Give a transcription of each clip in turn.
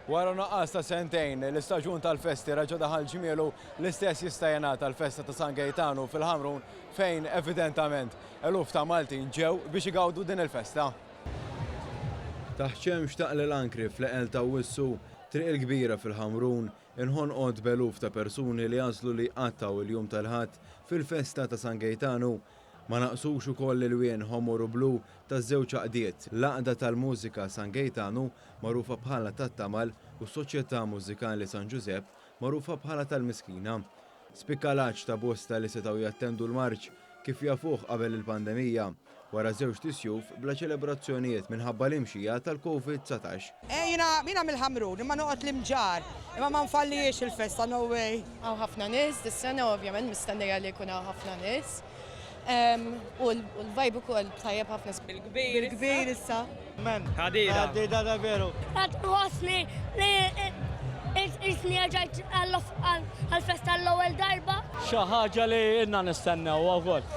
Wara nuqqas ta' sentejn, l-istaġun tal-festi raġa daħal ġmielu l-istess jista' jingħad tal-festa ta' San Gejtanu fil-Ħamrun fejn evidentament eluf ta' Maltin ġew biex igawdu din il-festa. Taħt xemx ta' Qli l-Ankri fl-eqel t'Awwissu, Triq il-Kbira fil-Ħamrun inħonqot b'eluf ta' persuni li għażlu li jqattgħu l-jum tal-Ħadd fil-festa ta' San Gejtanu Ma naqsux ukoll l-ilwien ħomor u blu taż-żewġ għaqdiet, l-Għaqda tal-Mużika San Gejtanu, magħrufa bħala tat-Tamal, u s-Soċjetà Mużikali San Ġużepp, magħrufa bħala tal-Miskina. Spikka l-għatx ta' bosta li setgħu jattendu l-marċ kif jafuh qabel il-pandemija, wara żewġt isjuf bla ċelebrazzjonijiet minħabba l-imxija tal-Covid dsatax. Jiena jiena mill-Ħamrun imma noqgħod l-Imġarr imma ma nfallihiex il-festa no way. Hawn ħafna nies dis-sena u ovvjament mistennija li jkun hawn ħafna nies u l-vibe ukoll tajjeb ħafna. Bil-kbir issa. Amen. Għadida ta' veru. Qed nħossni li qisni erġajt għall-festa għall-ewwel darba. Xi ħaġa li ilna nistennewha wkoll.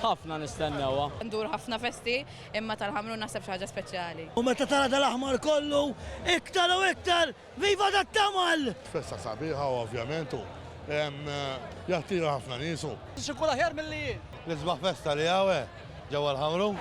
Ħafna nistennewha. Ndur ħafna festi. Imma tal-Ħamrun naħseb xi ħaġa speċjali. U meta tara dal-aħmar kollu, iktar u iktar, viva dat-tamal! Festa sabiħa ovvjament u jattira ħafna nies u. X'ikun aħjar milli hi. L-isbaħ festa li hawn eh, ġewwa l-Ħamrun.